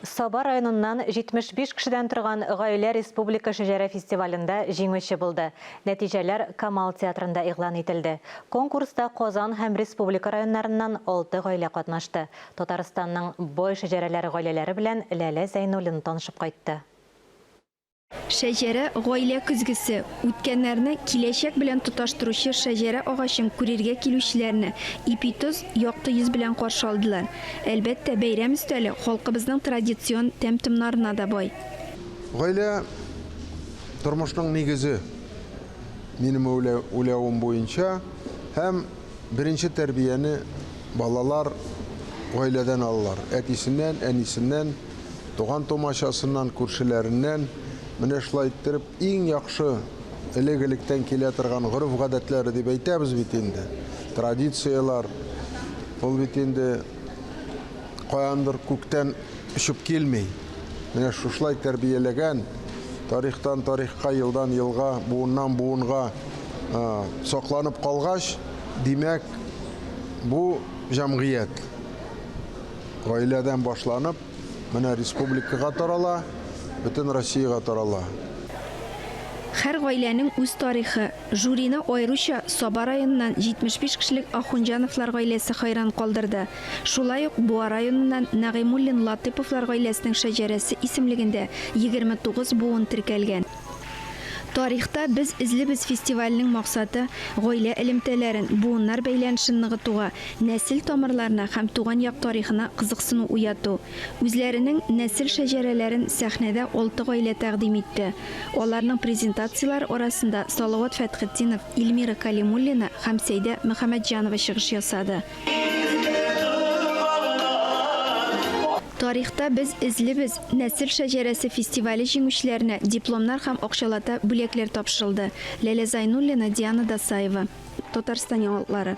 Саба районыннан 75 кешедән торган гаилә республика шәҗәрә фестивалендә җиңүче булды. Нәтиҗәләр Камал театрында игълан ителде. Конкурста Казан һәм республика районнарыннан алты гаилә катнашты. Татарстанның бай шәҗәрәләр гаиләләре белән Ләлә Зәйнуллина танышып кайтты. Шәҗәрә, гаилә көзгесе. Үткәннәрне киләчәк белән тоташтыручы шәҗәрә агачын күрергә килүчеләрне ипи-тоз, якты йөз белән каршы алдылар. Әлбәттә, бәйрәм өстәле халкыбызның традицион тәм-томнарына да бай. Гаилә, тормышның нигезе, минем уйлавым буенча, һәм беренче тәрбияне балалар гаиләдән алалар, әтисеннән, әнисеннән. туган-тумачасыннан, күршеләреннән менә шулай иттереп иң яхшы элек-электән килә торган гореф-гадәтләре дип әйтәбез бит инде. Традицияләр ул бит инде каяндыр күктән очып килми. Менә шушылай тәрбияләгән, тарихтан тарихка, елдан елга, буыннан буынга сакланып калгач, димәк, бу җәмгыять Гаиләдән башланып, менә республикага тарала, бөтен Россиягә тарала. Һәр гаиләнең үз тарихы. Жюрины аеруча Саба районыннан 75 кешелек Ахунҗановлар гаиләсе хәйран калдырды. Шулай ук Буа районыннан Нәгыймуллин-Латыйповлар гаиләсенең шәҗәрәсе исемлегендә 29 буын теркәлгән. Тарихта без эзлибез фестивальнең максаты, гаилә элемтәләрен, буыннар бәйләнешен ныгытуга, нәсел тамырларына һәм туган як тарихына кызыксыну уяту. Үзләренең нәсел шәҗәрәләрен сәхнәдә алты гаилә тәкъдим итте. Аларның презентацияләре арасында Салават Фәтхетдинов, Ильмира Калимуллина һәм Сәйдә Мөхәммәтҗанова чыгыш ясады. Тарихта без эзлибез нәсел шәҗәрәсе фестивале җиңүчеләренә дипломнар һәм акчалата бүләкләр тапшырылды, Ләлә Зайнуллина, Диана Дасаева. Татарстан яңалыклары.